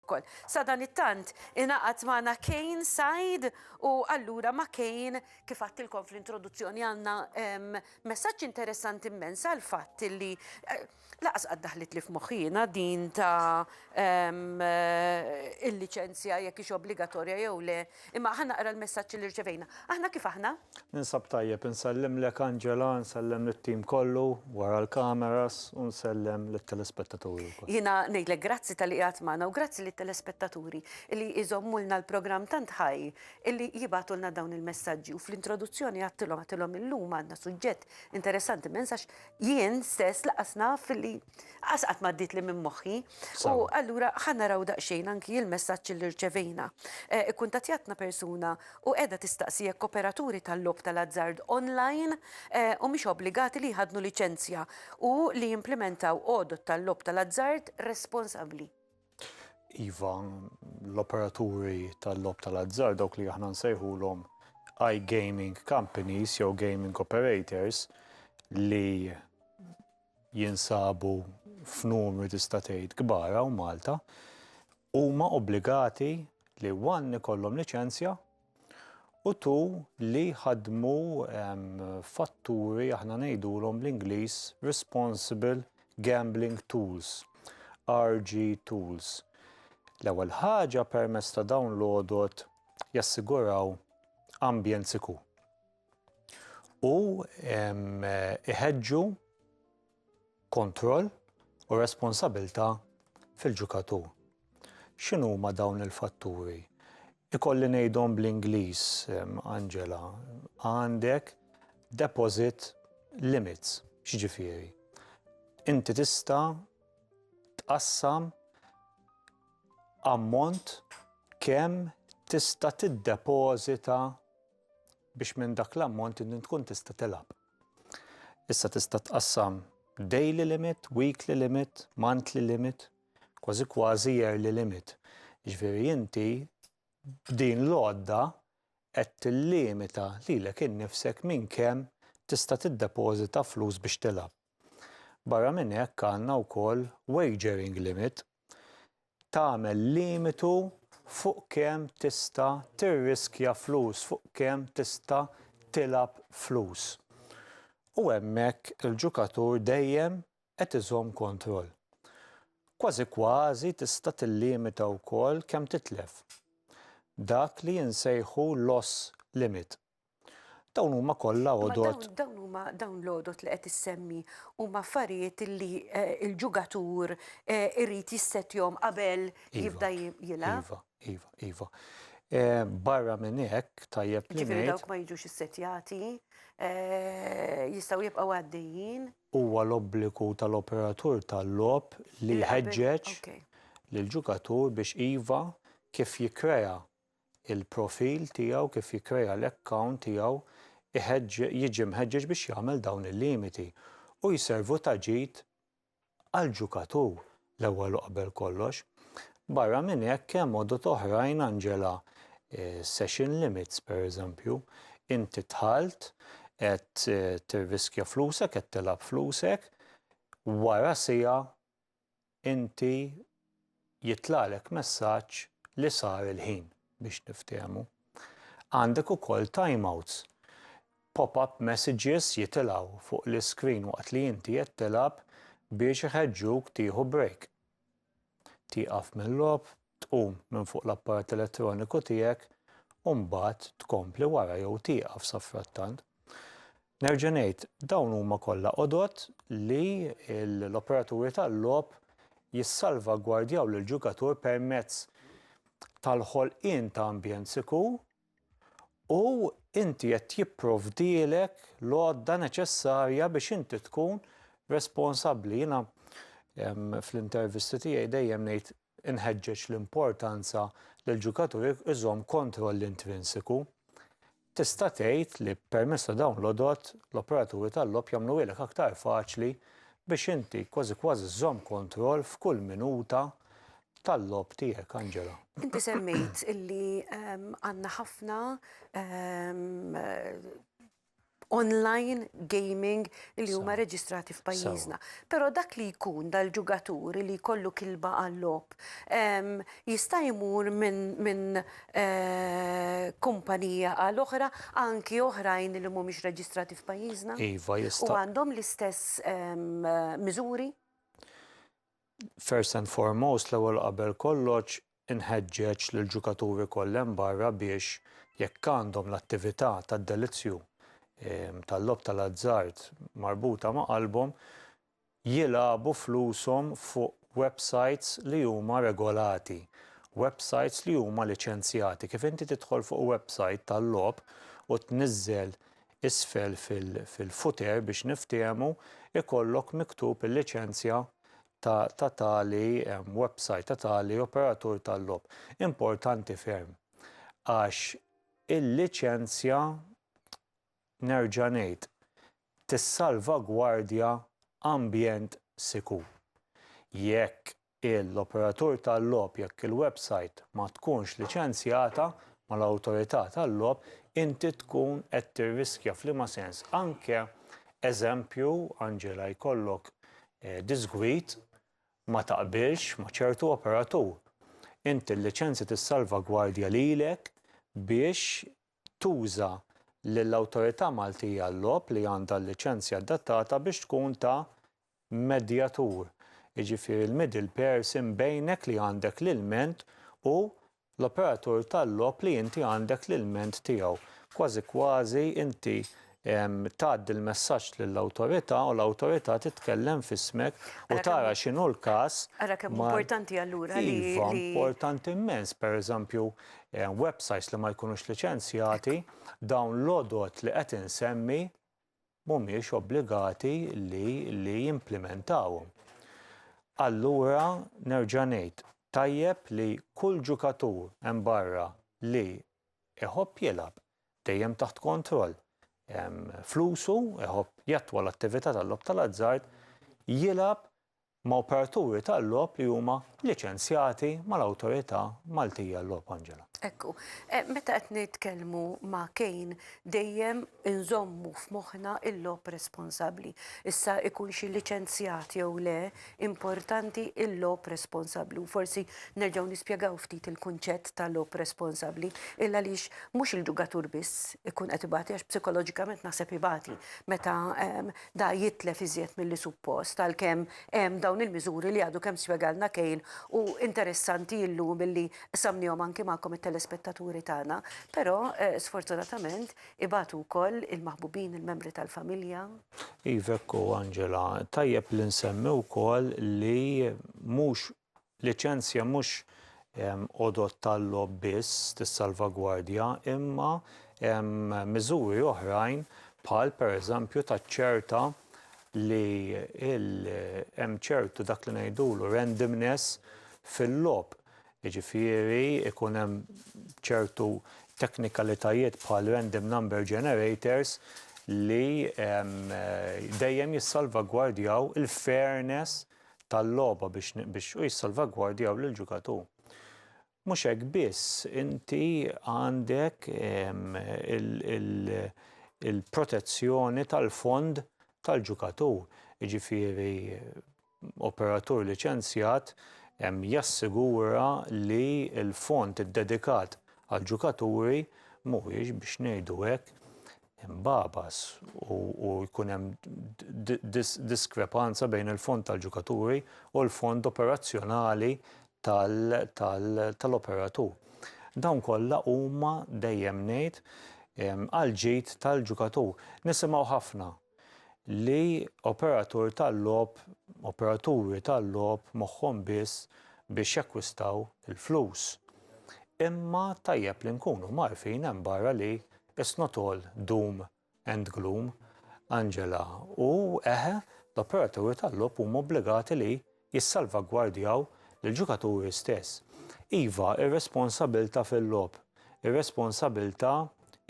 wkoll. Sadanittant ingħaqad magħna Cain Said u allura ma' Cain kif għadtilkom fl-introduzzjoni għandna messaġġ interessanti mmens għall-fatt li lanqas qatt daħlitli f'moħħi jiena din ta' il-liċenzja jekk hix obbligatorja jew le Imma ħa naqra l-messaġġ li rċevejna. Aħna kif aħna? Ninsab tajjeb, insellimlek Angela, nsellem lit-tim kollu wara l-kameras u nsellem lit-telespettaturi wkoll. Jiena ngħidlek grazzi talli qiegħed magħna u grazzi lit-telespettaturi illi jżommulna l-programm tant ħaj illi jibgħatulna dawn il-messaġġi u fl-introduzzjoni għedtilhom għedtilhom illum għandna suġġett interessanti immens għax jien stess lanqas naf illi Qas qatt m'għaddietli minn moħħi. U allura ħa naraw daqsxejn anki il-messaġġ li rċevejna. Eh, ikkuntattjatna persuna u qiegħda tistaqsi jekk operaturi tal-logħob tal-azzard online eh, u mhix obbligati li jħadnu liċenzja u li jimplimentaw għodod tal-logħob tal-azzard responsabbli. Iva, l-operaturi tal-logħob tal-azzard dawk li aħna nsejħulhom iGaming companies jew gaming operators li jinsabu f'numri tista' tgħid kbar hawn Malta, huma obbligati li one ikollhom liċenzja u two li jħaddmu fatturi aħna ngħidulhom bl-Ingliż responsible gambling tools, RG tools. L-ewwel ħaġa permezz ta' dawn l-għodod jassiguraw ambjent sikur. u iħeġġu kontroll u responsabilità fil-ġukatur. X'inhuma dawn il-fatturi? Ikolli ngħidhom bl-Ingliż, Angela, għandek deposit limits, x'ġifieri? Inti tista' tqassam ammont kemm tista' tiddepożita biex minn dak l-ammont inti tkun tista' tilgħab. Issa tista' tqassam daily limit, weekly limit, monthly limit, kważi kważi yearly limit. Ġifieri inti b'din l-għodda qed tillimita lilek innifsek minn kemm tista' tiddepożita flus biex tilgħab. Barra minn hekk għandna wkoll wagering limit, tagħmel limitu fuq kemm tista' tirriskja flus, fuq kemm tista' tilgħab flus. U hemmhekk il-ġukatur dejjem qed iżomm kontroll. Kważi kważi tista' tillimita wkoll kemm titlef. Dak li insejħu loss limit. Dawn huma kollha għodod. Dawn huma dawn l-għodod li qed issemmi huma affarijiet li eh, il-ġugatur eh, irid jissetjhom qabel iva, jibda jilgħab. Iva, iva, iva. Eh, barra minn hekk tajjeb li ngħid. dawk ma jiġux issetjati, jistgħu jibqgħu għaddejjin. Huwa l-obbligu tal-operatur tal-lob li jħeġġeġ lill-ġugatur biex iva kif jikkrea il-profil tiegħu kif jikkrea l-account tiegħu jiġi mħeġġeġ biex jagħmel dawn il-limiti u jservu ta' ġid għall-ġukatur l-ewwel u qabel kollox. Barra minn hekk hemm għodod oħrajn Angela, session limits pereżempju, inti dħalt qed tirriskja flusek qed tilgħab flusek, wara siegħa inti jitlagħlek messaġġ li sar il-ħin biex niftehmu. Għandek ukoll timeouts. Pop-up messages jitilgħu fuq l-iskrin waqt li inti qed tilgħab biex iħeġġuk tieħu break. Tieqaf mill-logħob tqum minn fuq l-apparat elettroniku tiegħek u mbagħad tkompli wara jew tieqaf safrattant. Nerġa' ngħid, dawn huma kollha għodod li l-operaturi tal-logħob jissalvagwardjaw lill-ġugatur permezz tal-ħolqien ta' ambjent sikur U inti qed jipprovdielek l-għodda neċessarja biex inti tkun responsabbli. Jiena fl-intervisti tiegħi dejjem ngħid inħeġġeġ l-importanza li l-ġukatur iżomm kontroll intrinsiku. Tista' tgħid li permezz ta' dawn l-għodod l-operaturi tal-logħob jagħmluhielek aktar faċli biex inti kważi kważi żżomm kontroll f'kull minuta tal-logħob tiegħek, Angela. Inti semmejt illi għandna ħafna online gaming li huma reġistrati f'pajjiżna. Però dak li jkun dal-ġugatur li jkollu kilba għal-logħob jista' jmur minn kumpanija għal oħra anki oħrajn li mhumiex reġistrati f'pajjiżna? Iva, jista'. U għandhom l-istess miżuri? First and foremost, l-ewwel qabel kollox, inħeġġeġ lill-ġukaturi kollha hemm barra biex, jekk għandhom l-attività tad-delizzju tal-logħob tal-azzard marbuta ma' qalbhom, jilagħbu flushom fuq websajts li huma regolati, websajts li huma liċenzjati. Kif inti tidħol fuq websajt tal-logħob u tniżżel isfel fil-footer biex niftiehmu ikollok miktub il-liċenzja ta' ta' tali website, ta' tali operatur tal-logħob. Importanti ferm għax il-liċenzja nerġa' ngħid tissalvagwardja ambjent sikur. Jekk l-operatur tal-logħob jekk il-websajt ma tkunx liċenzjata mal-awtorità tal-logħob inti tkun qed tirriskja f'liema sens anke eżempju Angela jkollok diżgwid ma taqbilx ma ċertu operatur inti l-liċenzja tissalvagwardja lilek biex tuża lill-awtorità Maltija għal-logħob li għandha l-liċenzja adattata biex tkun ta' medjatur, jiġifieri l-middle person bejnek li għandek l-ilment u l-operatur tal-logħob li inti għandek l-ilment tiegħu. Kważi kważi inti tgħaddi l-messaġġ lill-awtorità u l-awtorità titkellem f'ismek u tara x'inhu l-każ. Ara kemm hu importanti allura li. Iva, importanti immens. Pereżempju, websites li ma jkunux liċenzjati, dawn l-għodod li qed insemmi, mhumiex obbligati li li jimplimentawhom. Allura nerġa' ngħid, tajjeb li kull ġukatur hemm barra li iħobb jilgħab, dejjem taħt kontroll, flusu, iħobb jattwa l-attività tal-logħob tal-azzard, jilgħab ma' operaturi tal-logħob li huma liċenzjati mal-Awtorità Maltija għal-Logħob, Angela. Ekku. Meta qed nitkellmu ma' Kane, dejjem inżommu f'moħħna il-logħob responsabbli. Issa ikun xi liċenzjat jew le, importanti il-logħob responsabbli. U forsi nerġgħu nispjegaw ftit il-kunċett ta' logħob responsabbli. Il għaliex mhux il-ġugatur biss ikun qed ibati għax psikoloġikament naħseb ibati meta Da jitlef iżjed milli suppost għalkemm hemm dawn il-miżuri li għadu kemm spjegalna Kane u interessanti illum illi qsamnihom anki magħkom it-telespettaturi tagħna. Però sfortunatament ibatu wkoll il-maħbubin, il-membri tal-familja. Iva hekk hu Angela. Tajjeb li nsemmi wkoll li mhux Liċenzja mhux għodod tal-logħob biss tissalvagwardja imma miżuri oħrajn bħal pereżempju taċċerta li hemm ċertu dak li ngħidulu randomness fil-logħob, jiġifieri jkun hemm ċertu teknikalitajiet bħal random number generators li dejjem jissalvagwardjaw il-fairness. tal-logħba biex biex u jissalvagwardjaw lill-ġugatur. Mhux hekk biss, inti għandek il-protezzjoni tal-fond tal-ġugatur, jiġifieri operatur liċenzjat jassigura li l-fond iddedikat għall-ġugaturi mhuwiex biex ngħidu hekk imbagħbas u jkun hemm diskrepanza bejn il-fond tal-ġukaturi u l-fond operazzjonali tal-operatur. Dawn kollha huma dejjem ngħid għall-ġid tal-ġukatur. Nisimgħu ħafna li operatur tal-logħob, operaturi tal-logħob moħħhom biss biex jakkwistaw il-flus. Imma tajjeb li nkunu mgħarrfin hemm barra li It's not all doom and gloom, Angela, u, eħe, l-operaturi tal-logħob huma obbligati li jissalvagwardjaw lill-ġukaturi stess. Iva, ir-responsabilità fil-logħob, ir-responsabilità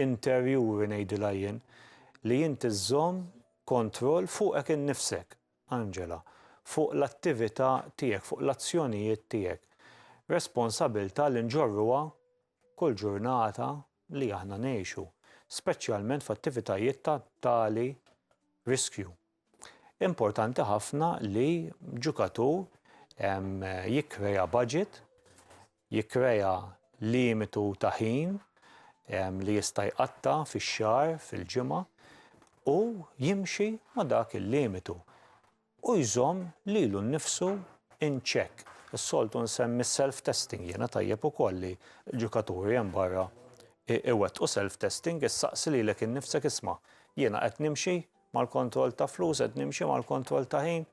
interjuri ngħidilha jien, li inti żżomm kontroll fuqek innifsek, Angela, fuq l-attività tiegħek, fuq l-azzjonijiet tiegħek. Responsabilità li nġorruha kull ġurnata li aħna ngħixu, speċjalment f'attivitajiet ta' tali riskju. Importanti ħafna li ġukatur jikkrea budget, jikkrea limitu ta' ħin li jista' jqatta' fix-xahar, fil-ġimgħa u jimxi ma' dak il-limitu. u jżomm lilu nnifsu in check. Is-soltu nsemmi s-self testing jiena tajjeb ukoll li ġukaturi hemm barra iwettqu self testing, issaqsi lilek innifsek isma' jiena qed nimxi mal-kontroll ta' flus, qed nimxi mal-kontroll ta' ħin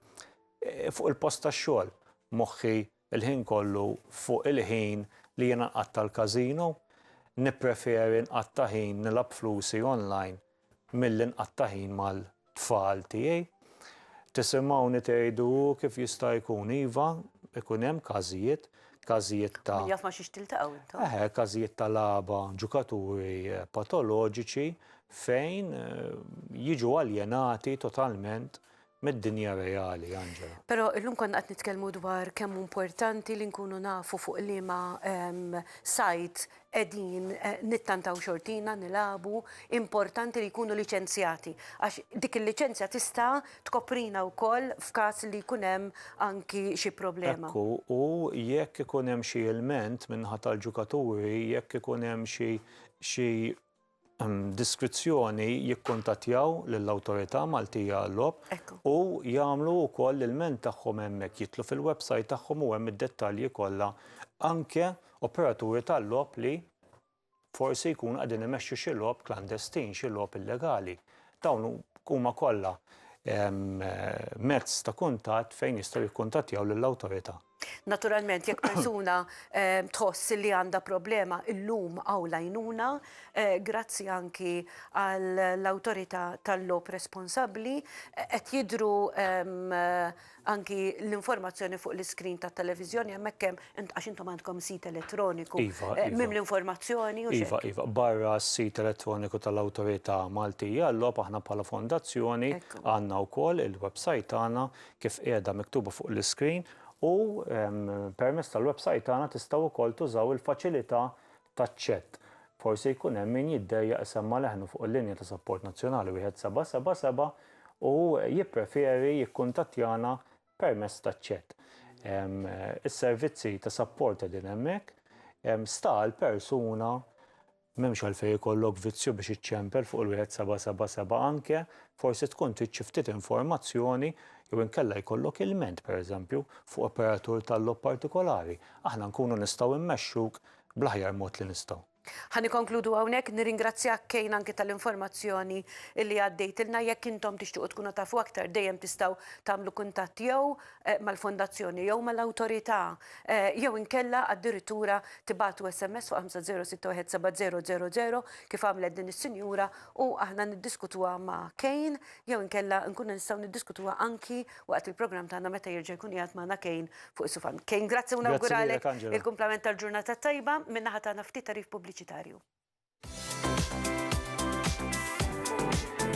fuq il-post tax-xogħol, moħħi il-ħin kollu fuq il-ħin li jiena nqatta' l-każino, nippreferi nqatta' ħin nilgħab flusi online milli nqatta' ħin mal-tfal tiegħi. Tisimgħuni tgħidu hu kif jista' jkun, iva, ikun hemm każijiet, każijiet ta'. Min jaf ma' xiex tiltaqgħu intom. Eħe, każijiet ta' lagħba, ġukaturi patoloġiċi fejn jiġu aljenati totalment mid-dinja reali, Angela. Però illum konna qed nitkellmu dwar kemm hu importanti li nkunu nafu fuq liema sajt qegħdin nittantaw xortina, nilagħbu, importanti li jkunu liċenzjati għax dik il-liċenzja tista' tkoprina wkoll f'każ li jkun hemm anki xi problema. Hekk hu, u jekk ikun hemm xi ilment min-naħa tal-ġukaturi, jekk ikun hemm xi diskrizzjoni jikkuntattjaw lill-Awtorità Maltija għal-Logħob u jagħmlu wkoll l-ilment tagħhom hemmhekk, jidħlu fil-website tagħhom u hemm id-dettalji kollha anke operaturi tal-logħob li forsi jkunu qegħdin imexxu xi logħob klandestin, xi logħob illegali. Dawn huma kollha mezz ta' kuntatt fejn jistgħu jikkuntattjaw lill-Awtorità. Naturalment jekk persuna tħoss li għandha problema illum hawn l-għajnuna, grazzi anki għall-awtorità tal-logħob responsabbli, qed jidhru anki l-informazzjoni fuq l-iskrin tat-televiżjoni hemmhekk hemm, għax intom għandkom sit elettroniku mimli informazzjoni u xi. Iva, iva. Barra s-sit elettroniku tal-Awtorità Maltija għal-Logħob aħna bħala Fondazzjoni għandna wkoll il-websajt tagħna kif qiegħda miktuba fuq l-iskrin u permezz tal-websajt tagħna tistgħu wkoll tużaw il-faċilità taċ-chat. Forsi jkun hemm min jiddejjaq isemma' leħnu fuq il-linja ta' sapport nazzjonali 1777 u jippreferi jikkuntattjana permezz taċ-chat. Is-servizzi ta' sapport qegħdin hemmhekk, sta għall-persuna M'hemmx għalfejn ikollok vizzju biex iċċempel fuq il-1777 anke, forsi tkun trid xi ftit informazzjoni jew inkella jkollok ilment, pereżempju, fuq operatur tal-logħob partikolari. Aħna nkunu nistgħu mmexxuk bl-aħjar mod li nistgħu. Ħa nikkonkludu hawnhekk, nirringrazzjak Kane anke tal-informazzjoni li għaddejtilna. Jekk intom tixtiequ tkunu tafu aktar dejjem tistgħu tagħmlu kuntatt jew mal-fondazzjoni jew mal-awtorità jew inkella addirittura tibagħtu SMS fuq 506170000 kif għamlet din is-sinjura u aħna niddiskutuha ma' Kane jew inkella nkunu nistgħu niddiskutuha anki waqt il-programm tagħna meta jerġa' jkun qiegħed magħna Kane fuq is-sufa. Kane, grazzi u nawguralek il-kumplament tal-ġurnata t-tajba min-naħa tagħna ftit tagħrif pubbliċitarju.